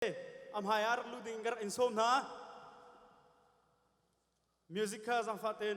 a hmai ah rak luh ding ka rak in sawm hna music kha zangfah ten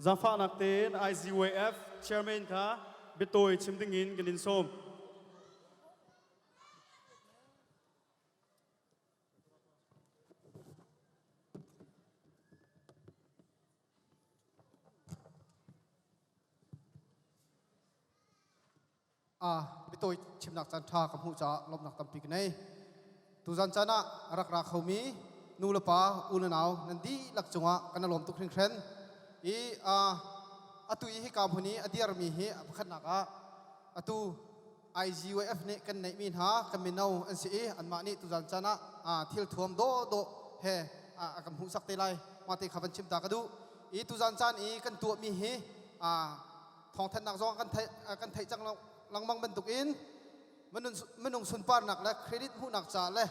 Zangfahnak tein IZWF chairman kha biatawi chim ding in kan in sawm. Mitawi chimnak caanṭha ka hmuh caah lawmhnak tampi ka nei. Tuzan caan ah a rak ra khomi nu le pa, ununau nan dihlak cungah kan i lawm tuk hringhran. I atu i hika hmun i a dirmi hi pakhatnak ah atu IGYF nih kan neihmi hna ka mino an si i anmah nih tuzan can ah thil thuam dawhdawh he a kan hmuhsak te lai mah te kha van chim ta ka duh i tuzan caan i kan tuahmi hi thawngthanhnak zong kan theih kan theih cang lengmang bantuk in minung sunparnak le credit hmuhnak ca le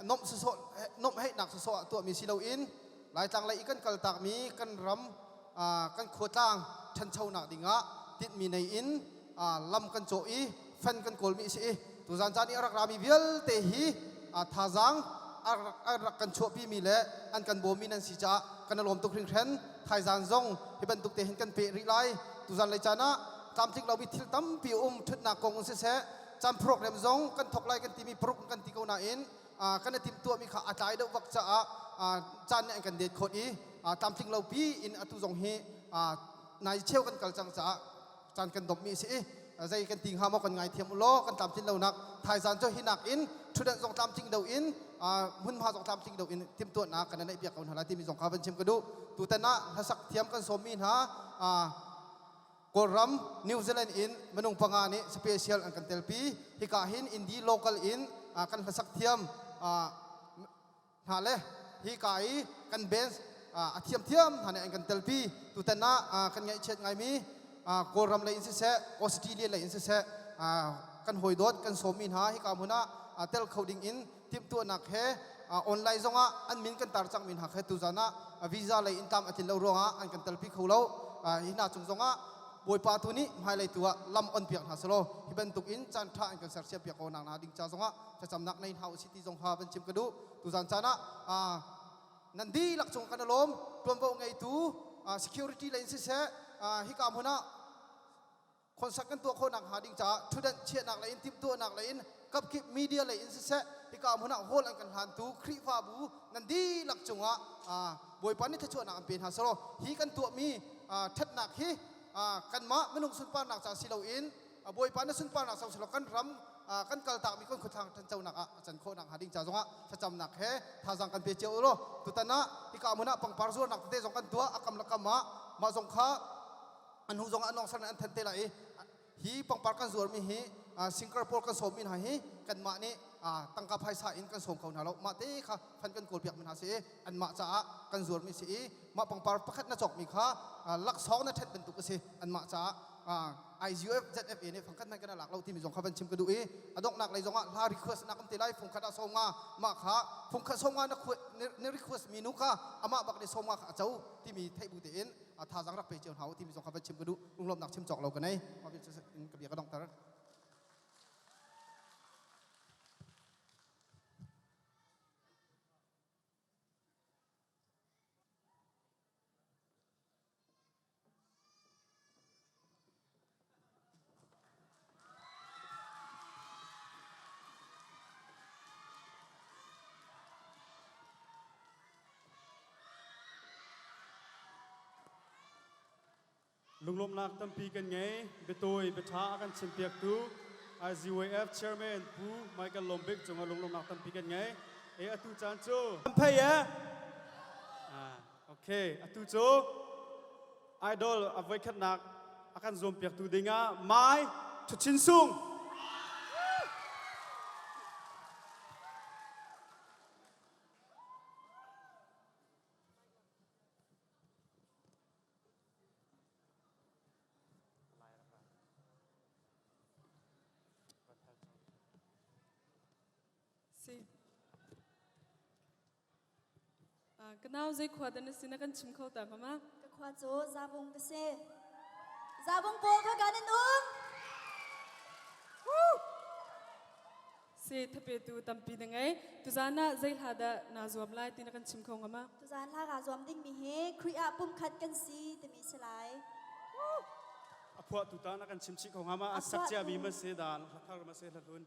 nomh sawh nomheihnak sawh tuahmi si loin laitlang lei i kan kaltakmi kan ram kan khuatlang ṭhanchonak dingah tinhmi nei in lam kan cawh i fan kan kawlmi a si i tuzan caan i a rak rami vialte hi thazaang an rak kan chuahpimi le an kan bawmmi nan si caah kan lawm tuk hringhran thaizaan zong hi bantuk te hin kan peh rih lai tuzan lei caan ah tlamtling lomi thil tampi um ṭhutnak kong um siseh can program zong kan thok lai kan timi paruk kan ti ko nain kan i timhtuahmi kha a tlai deuh bak caah caan nih an kan date khawt i tlamtling lopi in atu zong hi nai cheu kan kal cang caah caan kan dommi si i zei kan ti hnga maw kan ngaithiam u law kan tlamtlin lonak thaizan cu hi nakin ṭhutdenh zong tlamtling do in hmunhma zong tlamtling do in timhtuahnak kan naih piak ko hna lai timi zong kha van chim ka duh tutan ah hlasak thiam kan sawmmi hna Kawlram, New Zealand in minung panga nih special an kan telpi. Hika hin Indi local in kan hlasak thiam hna le hika i kan bands a thiamthiam hna nih an kan telpi. Tutan ah kan ngaihchiat ngaimi Kawlram lei in siseh, Australia lei in siseh, kan hawidawt kan sawmi hna hika hmun ah tel kho ding in timhtuahnak he online zongah an min kan tar cangmi hna kha tuzan ah visa lei in tlam a tlin lo ruangah an kan telpi kho lo hi hna chung zongah bawipa tu nih hmailei tu ah lam on piak hna selaw hi bantuk in caan ṭha an kan sersiam piak ko nak hna ding ca zongah thlacamnak nei hna usih ti zong kha van chim ka duh tuzan caan ah nan dihlak cung kan alawm ṭuanvo ngeitu security lei siseh hika hmun ah Khuasak kan tuah khawhnak hnga ding caah ṭhutanh chiahnak lei in timhtuahnak lei in kapkip media lei in siseh hika hmun ah hall an kan hlantu Khrihfabu nan dihlak cungah Bawipa nih thluachuahnak an pe hna selaw hi kan tuahmi ṭhatnak hi kanmah minung sunparnak ca si loin Bawipa na sunparnak sau selaw kan ram kan kaltakmi kan khuathang ṭhanchonak ah a can khawhnak hnga ding ca zongah thlacamnak he thazaang kan pe cio ulaw tutan ah hika hmun ah pangpar zuarnak tete zong kan tuah a kam le kam ah mah zong kha an hnu zong ah anong ser an than te lai i hi pangpar kan zuar mi hi singer pawl kan sawm mi hna hi kanmah nih tangka phaisa in kan sawm kho hna lo mah te kha fan kan kawl piak mi hna si i anmah caah kan zuar mi si i mah pangpar pakhat na cawk mi kha laksawng na ṭhet bantuk a si anmah caah IGF ZFA nih fangkhat nan kan lak lo timi zong kha van chim ka duh i a donghnak lei zong ah hla request na kan ti lai phungkhat ah sawm nga mah kha phungkhat sawm nga na request mi nu kha amah bak nih sawm nga kha a co timi theih bu te in a thazang rak pe cio hna u timi zong kha van chim ka duh lunglawmnak chim cawk lo ka nei ka bia ka dongter Lunglawmnak tampi kan ngei. Biatawi biaṭha a kan chimpiaktu IZWF Chairman Pu Michael Lombik cungah lunglawmnak tampi kan ngei. Eh atu caan cu Pei eh. Ah, okay, atu cu idol a voikhatnak a kan zuampiaktu dingah mai Thuchin Sung. See. Ka nau zei khua dan na si na kan chim kho ta mama? Ka khua cu Zavung ka si. Zavung pawl kha kan in um. Se thapetu tampi na ngei. Tuzan ah zei hla dah naa zuam lai ti na kan chim kho ngama? Tuzan hla kaa zuam dingmi hi Khrih ah pumkhat kan si timi si lai. A phuahtu ta na kan chim chih kho ngama? A sak ciami ma se dan, hla thar ma se hla hlun.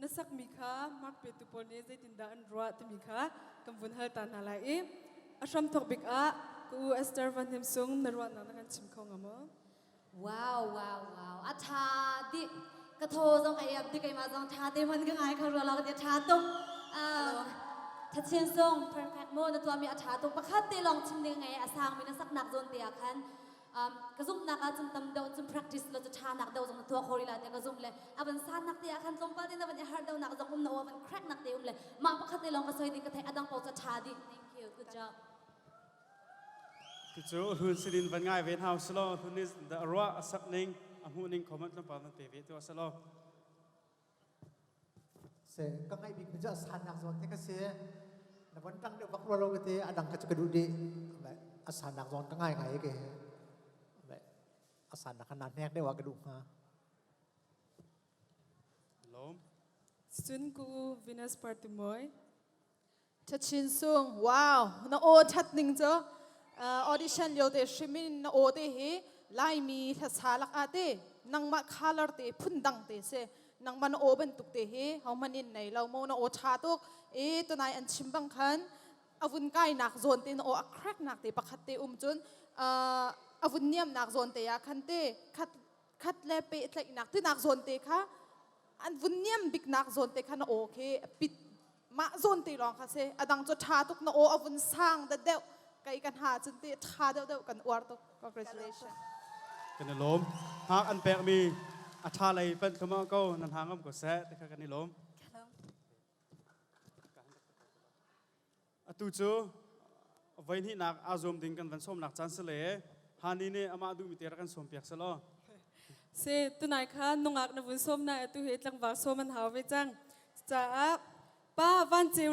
na sakmi kha mark petu pawl nih zeitindah an ruah timi kha kan vun hal ta hna lai i a hram thawk bik ah ka u Esther Van Hnem Sung na ruahnak na kan chim kho ngam maw? Wow wow wow a tha dih ka tho zong ai ab dih keima zong tha te man ka ngai kha ruala ka tha tung thatchen song perfect mo na tuami a tha tung pakhat te long chim ding ngai a sang mi na saknak zon te ah khan Um, ka zumhnak ah cun tam deuh cun practice le cu ṭhanak deuh zong na tuah kho rila te ka zumh le a van sannak te ah khan tlawmpal te na van i harh deuhnak zong um na aw van cracknak te um le mah pakhat te lawng va soi ding ka theih a dang paoh cu ṭha dih thank you good job Ticu hun sidin van ngai ve hau silo hun is the ruah a sap ning a hmu ning comment tlawmpal van pe ve tu asalo Se ka ngaih bik mi cu sannak zawn te ka si. Na von ṭang deuh bak rua lo te a dang kha cu ka duh dih. A sannak zawn ka ngai ngai ke he. A sannak kha na hnek deuh ah ka duh hnga. Lawm. Cun ku Venus Partimoi. Chachin Sung, wow, na aw that ning cu audition lio te hrim in na aw te hi Laimi hlasa lak ah te nangmah color te phun dang te se nangman na aw bantuk te hi homan in nei lo mo na aw tha tuk e tunai an chim bang khan avun kainak zone te na aw a crack nak te pakhat te um cun avun niam nak zone te ya khan te khat khat le pe tlaih nak tinak zone te kha an vun niam bik nak zone te kha na aw khi pit mah zawn te lawng kha si adang cu tha tuk na aw a vun sang da deuh kai ka hna cun te tha deuh deuh kan uar tuk congratulation kan i lawm hngak an pekmi a tha lei pan khama ko nan hang am ko seh te kha kan i lawm atu cu voihnihnak aa zuam ding kan van sawmnak caan si le hani nih amah duhmi te rak kan sawmpiak sih law si tunai kha nungak na vun sawm na atu he tlangvar sawm an hau ve cang caah pa van ceu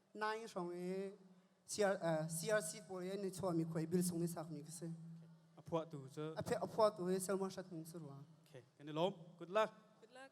nai hrawng i CRC pawl i ni chuahmi khoi bill sung ni sakmi ka si. A phuah tu cu a phuah tu i Selma Shat Hming su rua. Okay, kan i lawm. Good luck. Good luck.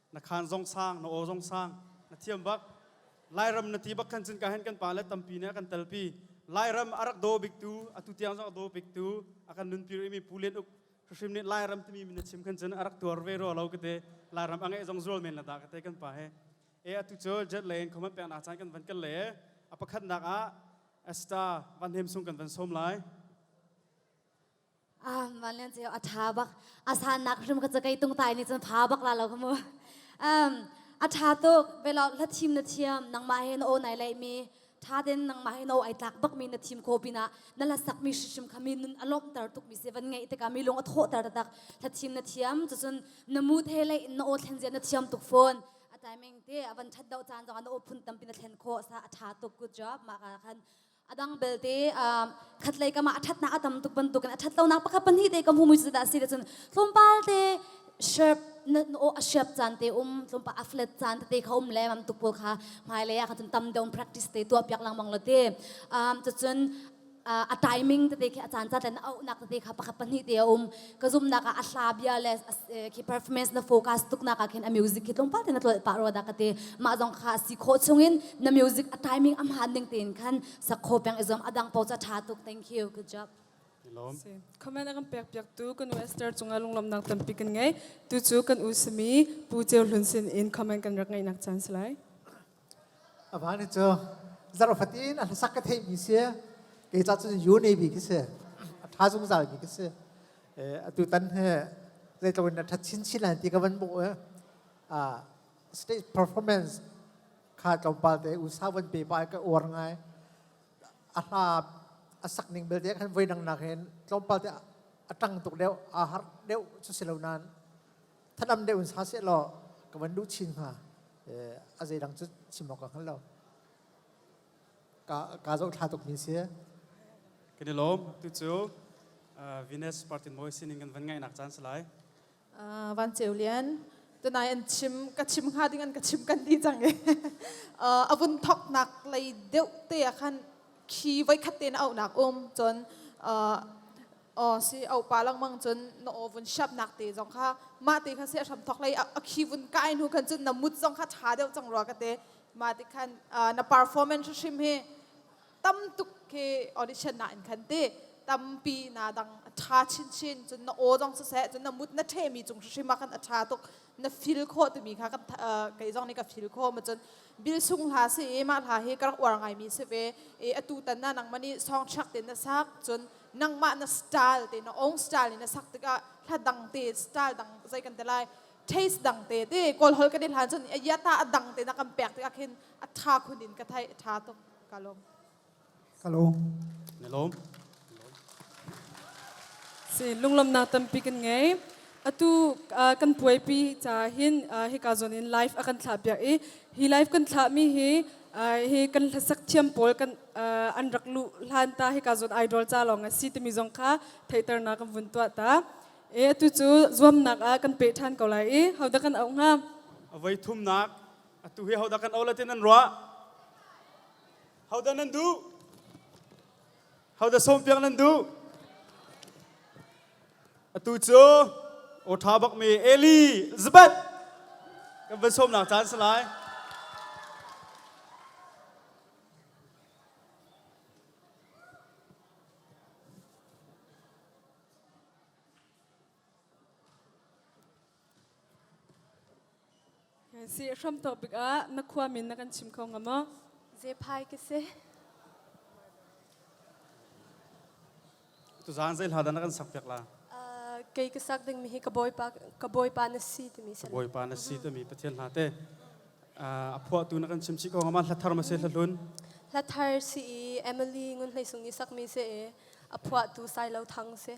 na khan zong sang na aw zong sang na thiam bak lairam na ti bak khan cun ka hen kan pa le tampi ne kan telpi lairam a rak do biktu atu tiang zong a do biktu akan nun pir imi pulen uk hrim nih lairam timi min chim khan cun arak tuar ve ro lo kate lairam ange zong zul men la da kate kan pa he e atu cho jet le khoma pek na chan kan van kal le apakhat nak a asta van hem sung kan van som lai Ah, van lian ceu a tha bak. A san nak hrim ka cakei tung tai ni cun pha bak la lo kamu. Um, a tha tuk velok la thim na thiam nangma he na o nai lei mi tha den nangma he na o ai tlak bak mi na thim ko pina na la sak mi shishim kha mi nun alom tar tuk mi se van ngei te ka mi lung a tho tar tak la thim na thiam tu cun na mu the lei na o thlen je na thiam tuk phone a timing te avan that do chan zong na o phun tam pina thlen kho sa a tha tuk good job ma ka khan Adang belte khatlei kama a thatnak a tam tuk bantukin a thatlonak pakhat pahnih te ka hmu muizu dah si le cun tlumpal te shirt na o a shiap caan te um tlumpa a flat caan te kha um le mam tupul kha hmailei ah khan tam deuh practice te tuah piak langmang lo te cun a timing tete khi a caan ca tlen a auhnak tete kha pakhat pahnih te a um ka zumnak ah a hla bia le khi performance na focus tuknak ah khin a music khi tlungpal tein a tlol pa ro da ka te ma zong kha si kho chungin na music a timing am han ning tein khan sakho peng izom adang po cha tha tuk thank you good job lom comment akan pek pek tu kan western chunga lunglom nak tampi kan ngai tu chu kan usmi pu cheu hlun sin in comment kan rak ngai nak chance lai A pa nih cu zarh fatin a hlasak ka theihmi si, kei ca cun yu neibi khi si, a ṭha zungzalmi khi si. Atu tan hi zeitluk in a ṭhat chinchin lai ti ka van hmuh i stage performance kha tlawmpal te usa van pe pa i ka uar ngai. A hla a sak ning belte khan voi dangnak hin tlawmpal te a ṭang tuk deuh, a har deuh cu si lo nain thanam deuh in sa seh law ka van duh chin hnga a zeidang cu chim awk ka hngal lo ka ka zoh thla tuk mi si kan i lawm tu cu Venus Martin Moy sining kan van ngaihnak caan si lai Van Ceu Lian tunai an chim ka chim hnga ding an ka chim kan ti cang e a vun thok nak lei deuh te a khan khi voi khat te na au nak um cun Oh si aupa lengmang cun na aw vun shap nak te zong kha mah te kha se hram thok lei a khi vun kai nu kan cun na mut zong kha tha deuh cang rua ka te ma ti khan na performance hrim hi tam tuk ke audition na in khan te tampi na dang a tha chin chin cun na aw zong sa se cun na mut na the mi cung hrim ma khan a tha tuk na feel khawh timi kha ka kei zong nih ka feel khawh ma cun bil sung hla si i mah hla hi ka rak uar ngai mi si ve i atu tan na nang mani nih song chak te na sak cun nangmah na style te na ong style na sak tikah hla dang te style dang zei kan te lai taste dang te te kol hol kan i hlan cun ya ta dang te na kan pek tikah khin a tha khun in ka thai tha tuk ka lom Hello. Nelawm. Si lunglamnak tampi kan ngei. Atu uh, kan puaipi ca hin uh, hika zon in live a kan thlah biak i hi live kan thlah mi hi uh, hi kan hlasak thiam pawl kan uh, an rak lu hlan ta hika zon idol ca lawng a si timi zong kha theiter na kan vun tua ta. E atu cu zuamnak ah kan pe than ko lai i hauda kan au hnga. Avai thumnak atu hi hauda kan au la tin an ruah. Hodah nan duh? Hodah sawmpiak nan duh? Atu cu aw ṭha bakmi Elizabeth kan van sawmnak caan si lai. Si hramtawk tikah na khuami na kan chim kho ngam maw? Zephai ka si. Tuzaan zei hla dah na kan sakpiak la? Kei ka sak dingmi hi ka bawipa ka bawipa na si timi sana. Bawipa na si timi Pathian hla te. A phuahtu na kan chimchi ko ngam hla thar ma se hla hlun. Hla thar si i Emily ngun hlei sung ni sakmi se e a phuahtu Sailo Thang se.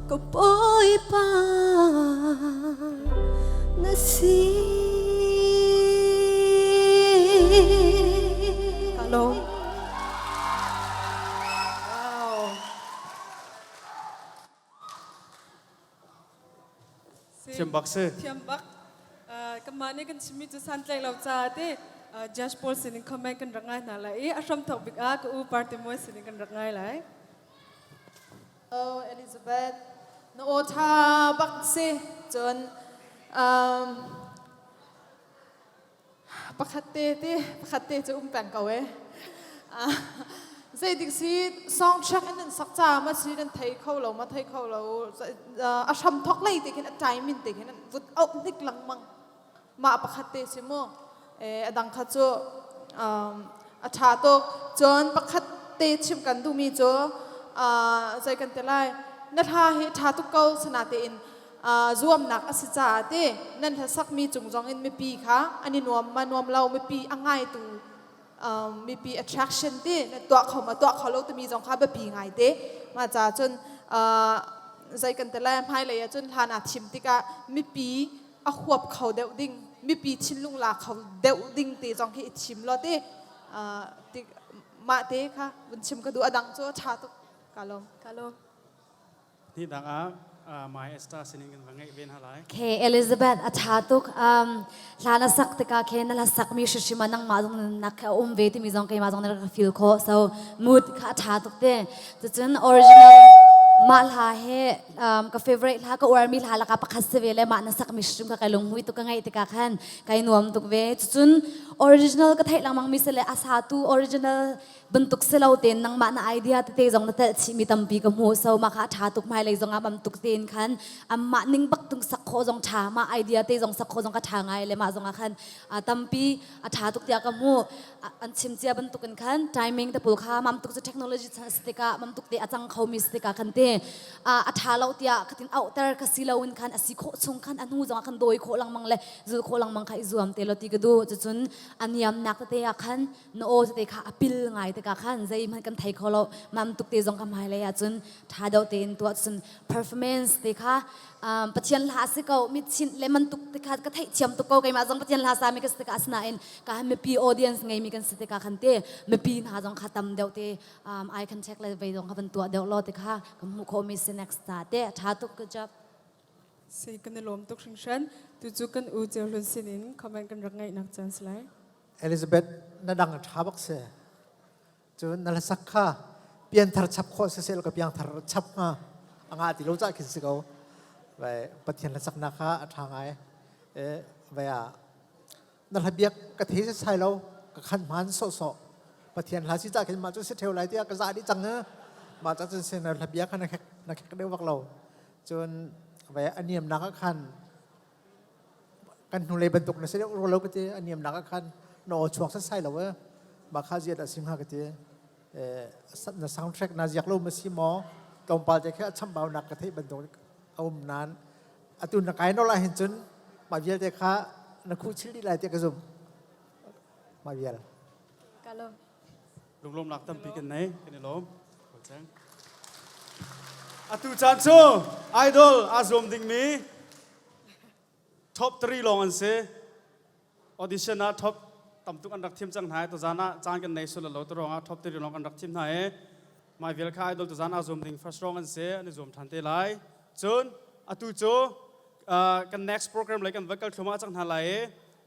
ka bawipa na si ka lawm Siambak si. Thiambak. Kamah nih kan chimi cu santlaih lo ca te judge Paul sinin comment kan rangai hna lai i a hram thok bik ah ka u party mui sinin kan rangai lai. Oh, Elizabeth, na aw ṭha bak si. Cun um, pakhat te te, pakhat te cu um peng ko e. Uh, zeitik si soundtrack in nan sak ca ma si kan thei kho lo ma thei kho lo. Uh, a hram thok lei te khin a time in te khin vut au hnik langmang. mah pakhat te si mu a dang kha cu a ṭha tuk cun pakhat te chim kan duhmi cu zei kan ti lai na hla hi ṭha tuk ko sana tein zuamnak a si caah ti nan hla sakmi cung zong in mipi kha an i nuam ma nuam lo mipi a ngaitu mipi attraction ti na tuah kho ma tuah kho lo timi zong kha biapi ngai te ma ca cun zei kan ti lai hmailei ah cun hlan ah thim tikah mipi a huap kho deuh ding mipi thinlung la kho deuh ding te zong hi i thim law te mah te kha vun chim ka duh adang cu tha tuk ka lawm ka lawm ni dang ah my star sining kan va ngeih ve hna lai ke elizabeth a tha tuk um hlan a sak tika ke na la sak mi hrishima nang ma zong nak kha um ve ti mi zong keima zong na ka feel ko so mood kha a tha tuk te tucun original mah hla he um, ka favorite hla ka uarmi hla laka pakhat se ve le ma na sak mishrum ka kai lunghui tu ka ngai tika khan kai nuam tuk ve cucun original ka thai langmang mi se le asa tu original bantuk se lo ten nang ma na idea te te zong na tel chi mi tampi ka mu so ma ka tha tuk mai lei zong am tuk ten khan am ma ning bak tung sak kho zong tha ma idea te zong sak kho zong ka tha ngai le ma zong a khan a tampi a tha tuk tia ka mu an chim cia bantuk in khan timing te pul kha mam tuk cu technology chan si tikah mam tuk te a cang khomi si tikah khan te a tha lo tiah katin auhter ka si lo in khan asi khawh chung khan a hnu zong khan dawi khawh langmang le zul khawh langmang kha i zuam te lo ti ka du cucun a niam nak te ah khan na o te kha apil ngai tikah khan zei man kan thei kho lo mam tuk te zong ka hmai lei ah cun tha deuh te in tuah cun performance te kha Pathian hla si ko mi chinh le man tuk tikha ka theihthiam tuk ko keimah zong Pathian hla sa mi ka si tikah asinain ka mipi audience ngei mi kan si tikah khan te mipi hna zong kha tam deuh te I can check le vei zong kha van tuah deuh law tikha ka hmuh khawh mi si next ta te tha tuk ka job si kan i lawm tuk hringhren tu cu kan u ceu hlun sin in comment kan rak ngai nak chance lai Elizabeth na dang tha bak se cun na la sak kha pianthar chap khawh sisel ka piangthar chap nga anga ti lo cah khin si ko vai pathian la sakna kha a tha ngai e vai a na la biak ka thei se sai lo ka khan man so so pathian la si cah khin ma chu si theu lai tia ka za di chang ha ma cha chun se na la bia khan na khek na khek deuh bak lo cun vai aniam na ka khan kan hnulei bantuk na sei ro lo ka ti aniam nak ah khan na aw chuak san sai lo eh ma kha ziat asim ha ka ti na soundtrack na ziak lo ma si maw tlawmpal te khe acham bau nak ka thei bantuk aum nan atu na kai no la hin chun ma vial te kha na khu chil di lai te ka zum ma vial kalom lunglawmnak tampi kan nei kan i lawm atu caan cu idol aa zuam dingmi top 3 lawng an si audition ah top tamtuk an rak thim cang hna tu zan ah caan kan nei sul lo tu rong ah top 3 lawng an rak thim hna i mai vial kha idol tu zan ah zuam ding first rong an si an i zuam than te lai cun atu cu kan next program lai kan vocal thluma cang hna lai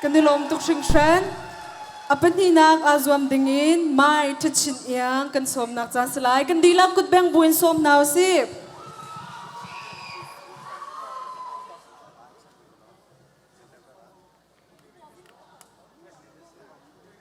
kan i lawm tuk hringhran. A pahnihnak aa zuam dingin mai ṭhachin iang kan sawmnak ca si lai. Kan dihlak kutbeng buin sawm hna u sih.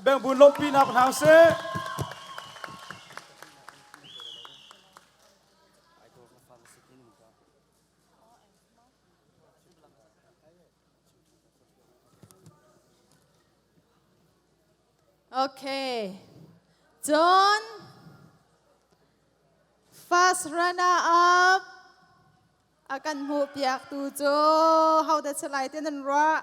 Bangbun lawmhpi hna ko hna usih. Okay. John, first runner up. A kan hmuh piak tu cu hau da chalai te nan ruah.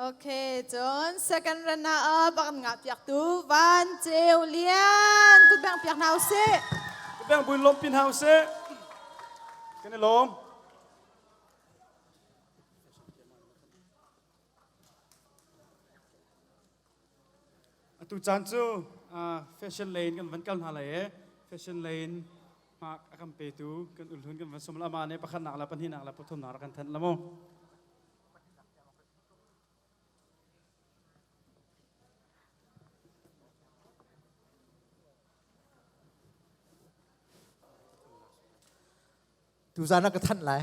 Okay, cun second run ah bak an ngah piak tu Van Ceu Lian kut bang piak hna usih. Kut bang buin lom pin hna usih. Kan i lom. Atu caan cu fashion lei in kan van kal hna lai i fashion lei in hmak a kan petu kan ulhlun kan van sum le amah nih pakhatnak le pahnihnak le pathumnak rak kan thenh la maw? Tuzan ka thanh lai.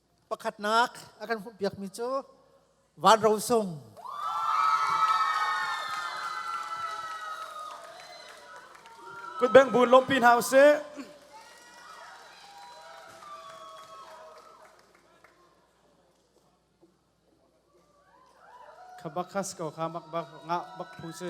Pakhatnak a kan hmuhpiakmi cu Van Ro Sung. Kut beng buun lawmpi hna usih. Khabakas ko kha bak bak ngah bak phu si.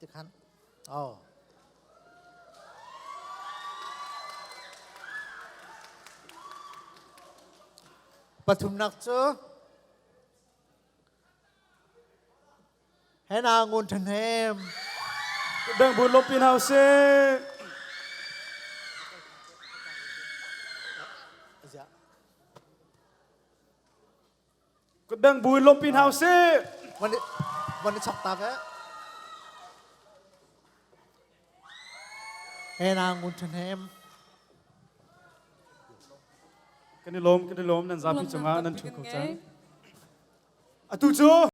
Tikhan. Oh. Pathumnak cu hena ngun than hem. Bang bu lop in house. Ka deng bu in lawmpi hna usih. Van i, van i chak tak eh. He na ngun ṭhen hem. Kan i lawm, kan i lawm. Nan zapi cungah nan thu ko cang. Atu cu